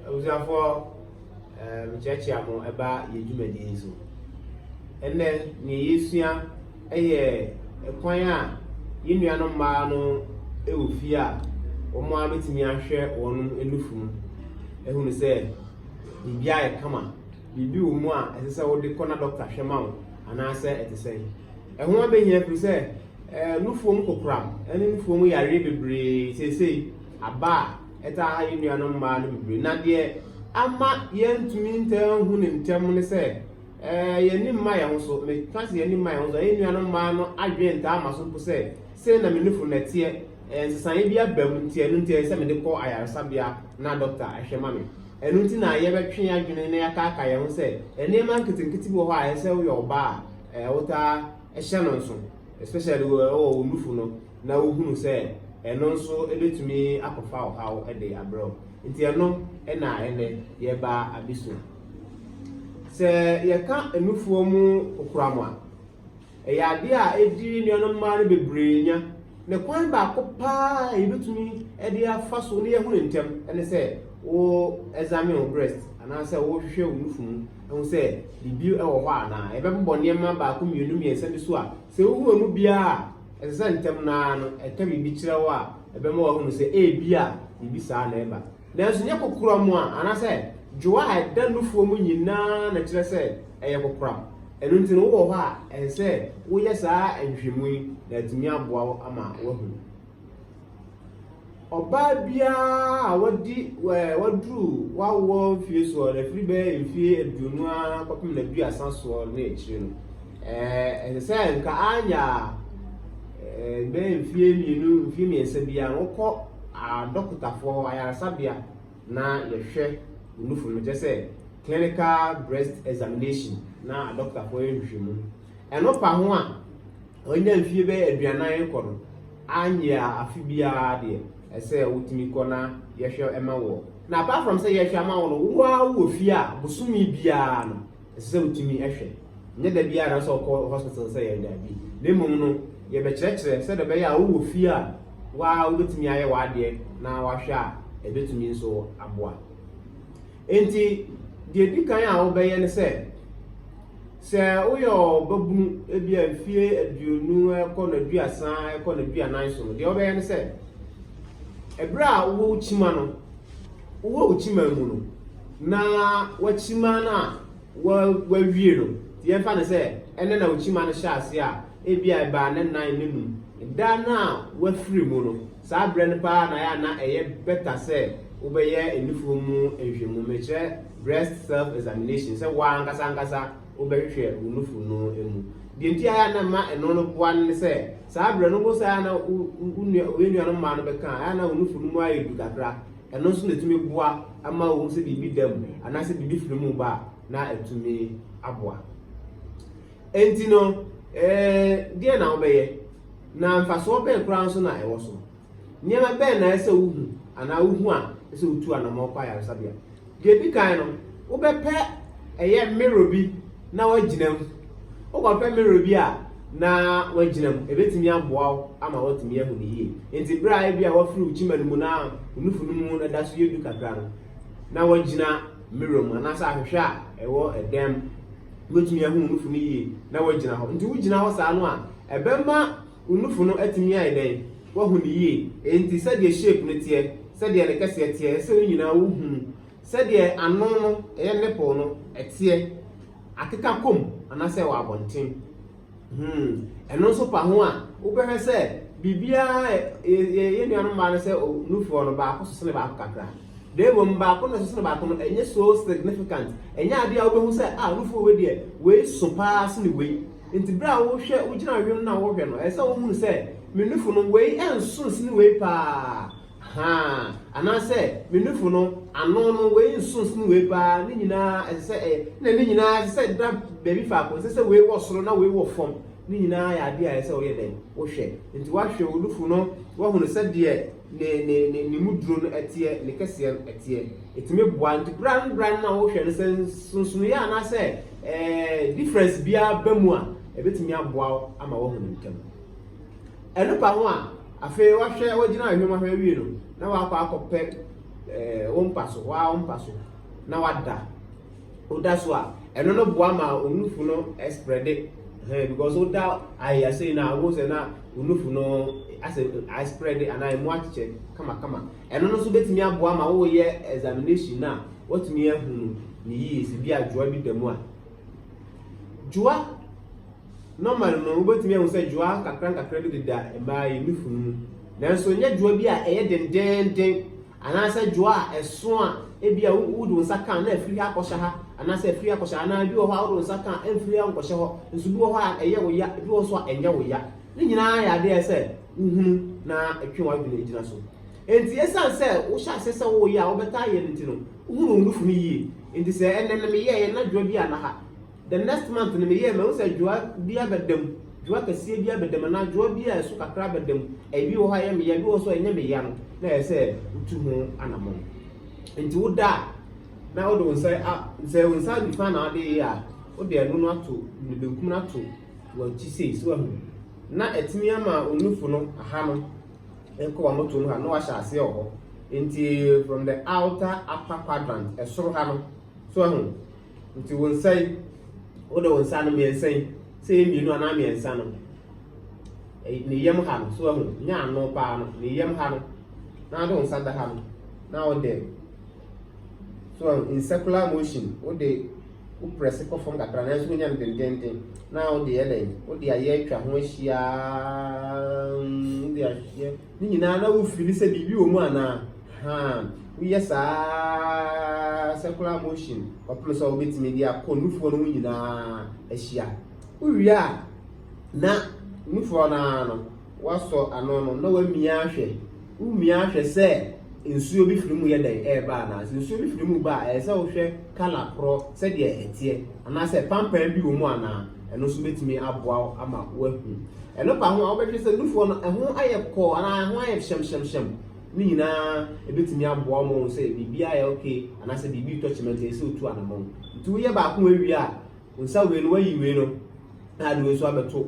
Abusuafoɔ, eh, mekyerɛkyea mo ɛba yɛ dwumadie yi so. Ɛnnɛ, neɛ yɛsua ɛyɛ ɛkwan a yɛn nuanom mmaa no ɛwɔ fie a wɔn ara bɛtumi ahwɛ wɔn nufu mu ɛhunu sɛ biribi ayɛ kama biribi wɔ mu a ɛsɛ sɛ wode kɔ na dɔkta hwɛ ma wo anaasɛ ɛte sɛn ɛho abɛhia firi sɛ ɛɛ nufuo mu kokoram ɛne nufuo mu yareɛ bebree seesei aba a ɛtaa ha yɛn nuanom mmaa no bebree na deɛ ama yɛntumi ntaa nhu no ntɛm ne sɛ ɛɛ yɛn ani mma yɛn ho so meka sɛ yɛn ani mma yɛn ho so ɛyɛ nuanom mmaa no adwene ntaa ma so mpo sɛ sɛ na me nufo na ɛteɛ ɛɛ nsesaeɛ bi aba mu nti ɛno nti ɛyɛ sɛ mede kɔ ayaresabea na dɔkta ɛhwɛ ma me ɛno nti na yɛbɛtwe yɛn adwene na yɛakaaka yɛn ho sɛ nneɛma nketenkete bi wɔ hɔ a ɛsɛ woyɛ ɔbaa ɛɛ wotaa ɛhyɛ no nso especially wɔ wɔ wo nufo no na wohunu sɛ ɛno nso ebetumi akɔfa ɔhaw de abrɛ wo. Nti ɛno na ɛnnɛ yɛreba abesua. Sɛ yɛka nufoɔ mu kokoram a, ɛyɛ adeɛ a edi nuanom mmaa no bebree nya. Ne kwan baako paa a yɛbɛtumi de afa so na yɛahu no ntɛm ne sɛ wo examine wo breast anaasɛ wohwehwɛ wo nufu mu ɛho sɛ biribi wɔ hɔ anaa. Yɛbɛbobɔ nneɛma baako mmienu mmiɛnsa bi so a sɛ wohu emu biara a Ɛsɛ sɛ ntɛm no ara no ɛka biribi kyerɛ wo a ɛbɛma wahunu sɛ ebia biribi saa na ɛreba. Nanso nyɛ kokoram a anaasɛ dwo a ɛda nufoɔ mu nyinaa na ɛkyerɛ sɛ ɛyɛ kokoram. Ɛno nti no wowɔ hɔ a, ɛsɛ sɛ woyɛ saa nhwehwɛmu yi na atumi aboa wo ama woahunu. Ɔbaa biara a wadi ɛɛ waduru w'awoɔ mfeɛ soɔ no, ɛfiri bɛyɛ mfeɛ aduonu ara kɔpem n'aduasa soɔ ne akyire no, ɛɛ ɛsɛ sɛ nka anya ɛɛ bɛyɛ mfeɛ mmienu, mfeɛ mmiɛnsa biara no, wokɔ adɔkotafoɔ hɔ, ayaresabea na yɛhwɛ wo nufu no, kyerɛ sɛ clinical breast examination na adɔkotafoɔ yɛ nhwehwɛmu. Ɛno pa ho a. Wanya mfie bɛyɛ aduanan rekɔ no, anyɛ a afe biara deɛ ɛsɛ wotumi kɔ na yɛhwɛ ma woɔ. Na apart from sɛ yɛhwɛ ama wo no, wo ara wowɔ fie a bosome biara no ɛsɛ sɛ wotumi hwɛ. Nyɛ da biara na ɛsɛ sɛ ɔkɔ hospital sɛ yɛn daabi. Na mmom no, yɛbɛkyerɛkyerɛ sɛdeɛ ɛbɛyɛ a wowɔ fie a wo ara wobɛtumi ayɛ w'adeɛ na wahwɛ a ɛbɛtumi nso aboa. Enti, deɛ ɛdi kan a wobɛyɛ ne sɛ, sɛ woyɛ ɔbabunu, ebia mfeɛ aduonu kɔ no aduasa kɔ no aduanan so no, deɛ wobɛyɛ ne sɛ, ɛberɛ a wowɔ wo kyima no, wowɔ wo kyima mu no, na wakyima no a wawie no, yɛmfa no sɛ ɛnɛ na wo kyima no hyɛ ase a, ebia ɛbaa ne nan ne num, da no a wafiri mu no, Saa berɛ no paa na ayɛ a na ɛyɛ better sɛ wobɛyɛ nufoɔ mu nhwɛmu, mekyerɛ breast self examination, sɛ wo ara ankasa ankasa wobɛhwehwɛ wo nufu no mu. Deɛ nti ayɛ a na ɛma ɛno no boa no ne sɛ, saa berɛ no wohu sɛ ayɛ a na wo nua wo nuanom mmaa no bɛka a, ayɛ a na wo nufu no mu ayɛ du kakra. Ɛno nso na ɛtumi boa ma wohu sɛ biribi da mu anaasɛ biribi firi mu ba a, na ɛtumi aboa. Enti no, ɛɛ, deɛn na wobɛyɛ, na mfasoɔ bɛn koraa nso na ɛwɔ so? Nneɛma bɛn na ɛsɛ wohu anaa wohu a ɛsɛ wotu anamɔ kɔ ayaresabea? Deɛ ɛdi kan no, wobɛpɛ ɛyɛ mmerɛ bi na woagyina mu. Wokɔpɛ mmerɛ bi a na woagyina mu, ɛbɛtumi aboa wo ama woatumi ahu no yie. Enti berɛ a ebi a woafiri wo kyima no mu na wo nufu no mu no da so yɛ du kakra no, na woagyina mmerɛ mu anaasɛ ahwehwɛ a ɛwɔ ɛdan mu. Wobɛtumi ahu wo nufu no yie na woagyina hɔ. Nti wogyina hɔ saa no a, ɛbɛma wo nufu no atumi ayɛ dɛn? Woahu no yie. Enti sɛdeɛ shape no teɛ, sɛdeɛ ne kɛseɛ teɛ, ɛsɛ sɛ wo nyinaa wohu no. Sɛdeɛ ano no, ɛyɛ nipple no, ɛteɛ, akeka kɔ mu anaasɛ ɛwɔ abɔnten. Hmm. Ɛno nso fa ho a, wobɛhwɛ sɛ biribiara yɛyɛ nuanom mmaa no sɛ nufoɔ no baako so sene baako kakra. Na mmom baako na ɛso baako no ɛnyɛ so significant. Ɛnyɛ adeɛ a wobɛhu sɛ a ah, nufoɔ wei deɛ wei so paa sene wei. Nti berɛ a wohwɛ wogyina wiem no a wohwɛ no, ɛsɛ sɛ wohunu sɛ me nufo no wei ɛnso sene wei paa. Ahaa, anaasɛ me nufo no, ano no, wei nso sen wei paa, ne nyinaa ɛsɛ sɛ ɛyɛ, na ne nyinaa ɛsɛ sɛ ɛda baabi faako, ɛnsɛ sɛ wei wɔ soro na wei wɔ fam, ne nyinaa yɛ adeɛ a ɛsɛ sɛ woyɛ dɛn? Wohwɛ. Enti woahwɛ wo nufo no, woahunu sɛdeɛ ne, ne, ne, ne mu duro no teɛ, ne kɛseɛ no teɛ. Ɛtumi boa. Nti berɛ a, berɛ a na wohwɛ no, sɛ nsonsonoeɛ anaasɛ ɛɛ, difference biara ba mu a, ɛbɛtumi aboa wo ama woahunu ntɛm. Ɛno ka ho a, afei wahwɛ, wagyina ahwɛ mu ahwɛ awie no, na wakɔ akɔpɛ ɛɛ wo mpa so, waa wo mpa so, na wada. Woda so a, ɛno no boa ma onufu no ɛsprɛde. Ɛhɛn because woda ayɛ asɛyi na awo sɛ na onufu no asɛ asprɛde anaa emu akyekyɛ kamakama. Ɛno no nso betumi aboa ma woyɛ examination na watumi ahunu ne yie sɛ bi adwoa bi da mu a. Dwoa Norman no, wubetumi ahu sɛ dwoa nkakrankakra bi deda mmaa yi nufu no mu. Nanso ɛnyɛ dwoa bi a ɛyɛ dendeenden anaasɛ dwoa a ɛso a ebia wode wo nsa ka a na afiri ha akɔhyɛ ha anaasɛ afiri ha akɔhyɛ ha anaa bi wɔ hɔ a wode wo nsa ka a ɛmfiri ha nkɔhyɛ hɔ nso bi wɔ hɔ a ɛyɛ wo ya bi wɔ hɔ nso a ɛnyɛ wo ya. Ne nyinaa yɛ ade a ɛsɛ sɛ wohunu na ɛtwe w'adwene gyina so. Enti esiane sɛ wohyɛ ase sɛ woyɛ a wobɛtaa yɛ no nti no, wohunu wo nufu no yie. Enti sɛ ɛnnɛ na meyɛeɛ na dwoa bi anna ha. The next month no meyɛɛ mahu sɛ dwowa bi abɛda mu, dwowa kɛseɛ bi abɛda mu anaa dwowa bi a ɛso kakra abɛda mu. Ebi wɔ hɔ a ɛyɛ me ya, ebi wɔ hɔ nso a ɛnyɛ me ya no na ɛyɛ sɛ wotu ho anammɔn. Nti woda a na wode wo nsa a sɛ wo nsa nifa na wode yɛ a wode ɛno no ato ne benkum no ato w'akyi sei so ahu na ɛtumi ama onufo no aha no ɛkɔ wɔn moto no ha na wahyɛ aseɛ wɔ hɔ nti from the outer upper quadrant ɛsoro ha no so ahu Nti wo nsa yi, wode wo nsa no mmiɛnsa yi, sɛ ɛyɛ mmienu anaa mmiɛnsa no, ne yam ha no, so ahu, nyɛ ano paa no, ne yam ha no, na wode wo nsa da ha no, na wode, so ahu, in circular motion, wode wo prɛse kɔ fam kakra, nanso wonya no dendenden, na wode yɛ dɛn, wode ayɛ atwa ho ahyia, wode ahyɛ, ne nyinaa na wofili sɛ biribi wɔ mu anaa. Haa, woyɛ saa ara circular motion kɔpem sɛ wobɛtumi de akɔ nufoɔ no ho nyinaa ahyia. Wowie a, na nufoɔ no ara no, woasɔ ano no na woamia ahwɛ. Womia ahwɛ sɛ nsuo bi firi mu yɛ dɛn ɛreba anaa. Sɛ nsuo bi firi mu ba a, ɛyɛ sɛ wohwɛ kala korɔ sɛdeɛ ɛteɛ anaasɛ pampan bi wɔ mu anaa. Ɛno nso bɛtumi aboa wo ama woahu. Ɛno pa ho a, wobɛhwɛ sɛ nufoɔ no ɛho ayɛ kɔɔ anaa ɛho ayɛ hyɛmhyɛmhyɛm. Ne nyinaa ebetumi aboa wo ma wɔn sɛ biribi ayɛ okay anaasɛ biribi retɔ kyema nti ɛsɛ sɛ otu anamɔn. Nti woyɛ baako awie a, nsa wei no wayi wei no na ade wei nso abɛto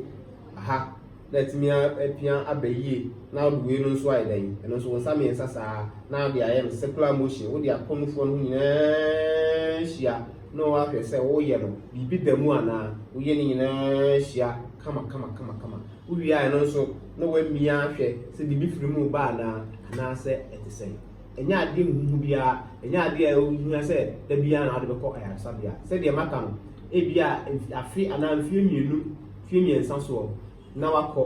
aha na atumi apia aba yie na ɔde wei no nso ayɛ dɛn ɛno nso wɔn nsa mmiɛnsa saa na ade ayɛ no circular motion wode akɔ nufoɔ no ho nyinaa hyia na wɔahwɛ sɛ woyɛ no biribi da mu anaa woyɛ ne nyinaa hyia kama kama kama kama Wowiae no nso, na wɔamia ahwɛ sɛ biribi firi mu reba anaa, anaasɛ ɛte sɛn. Ɛnyɛ adeɛ huhuuhu biara, ɛnyɛ adeɛ a ɛho hia sɛ da biara na wode bɛkɔ ayaresabea. Sɛdeɛ maka no, ebia afe anaa mfeɛ mmienu, mfeɛ mmiɛnsa soɔ na woakɔ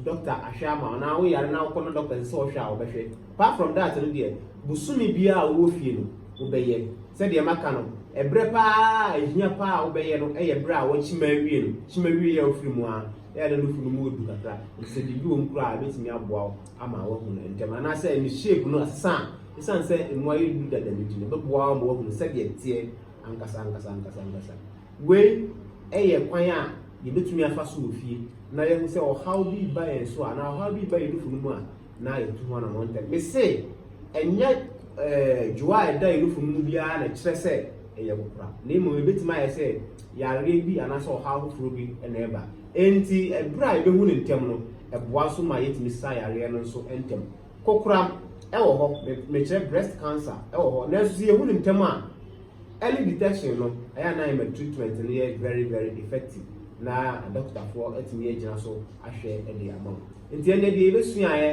dɔkta ahwɛ ama wo, anaa woyare na wokɔ na dɔkta ɛsɛ sɛ ɔhwɛ a, ɔbɛhwɛ. Apart from that no deɛ, bosome biara a wowɔ fie no, wobɛyɛ. Sɛdeɛ maka no, ɛberɛ pa ara a ɛhia pa ara a wobɛyɛ no yɛ berɛ a woakyima awie no, kyima awieeɛ a wofiri mu ara. Eya na nufu no mu odu kakra, nti sɛ biribi wɔ mu koraa a, ebetumi aboa wo ama woahu no ntɛm. Anaasɛ ne shape no asesa a, esiane sɛ emu ayɛ duru dada no nti no, ɛbɛboa wo ma woahunu sɛdeɛ ɛteɛ ankasa ankasa ankasa ankasa. Wei yɛ kwan a yɛbɛtumi afa so wɔ fie na yɛahu sɛ ɔhaw bi ba yɛn so a, anaa ɔhaw bi ba yɛn nufu no mu a, na yɛtu ho anamɔ ntɛm mese ɛnyɛ ɛɛ dwoa a ɛda yɛnufo no mu biara na ɛkyerɛ sɛ ɛyɛ kokora na mmom ebetumi ayɛ sɛ yareɛ bi anaasɛ ɔhaw foforɔ bi na ɛba enti ɛberɛ a yɛbɛhu no ntɛm no ɛboa nso ma yɛtumi sa yareɛ no nso ntɛm kokora ɛwɔ hɔ mekyerɛ breast cancer ɛwɔ hɔ nanso sɛ yɛhu no ntɛm a early detection no ɛyɛ na ɛma treatment no yɛ very very effective na adɔkotafoɔ atumi agyina so ahwɛ ɛde ama wo Enti ɛnde deɛ yɛbɛsuaeɛ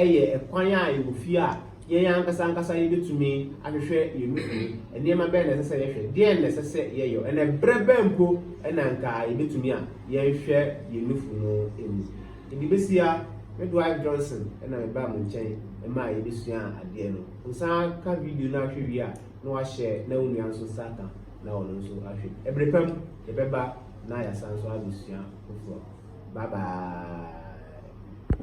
yɛ kwan a ɛwɔ fie a yɛn ankasa ankasa yɛbɛtumi ahwehwɛ yɛn mu firi. Nneɛma bɛn na ɛsɛ sɛ yɛhwɛ? Deɛn na ɛsɛ sɛ yɛyɔ? Ɛna berɛ bɛn mpo na anka yɛbɛtumi a yɛnhwɛ yɛn nufu no mu? Ɛde bɛsi ha, me Dwight Johnson na mebaa mo nkyɛn ma a yɛbɛsua adeɛ no. Wo san ka video no ahwɛ wie a, na wahyɛ na wo nua nso nsa ka na ɔno nso ahwɛ. Ɛbere pa mu. Yɛbɛba na yɛasan nso abɛsua foforɔ. Bye bye.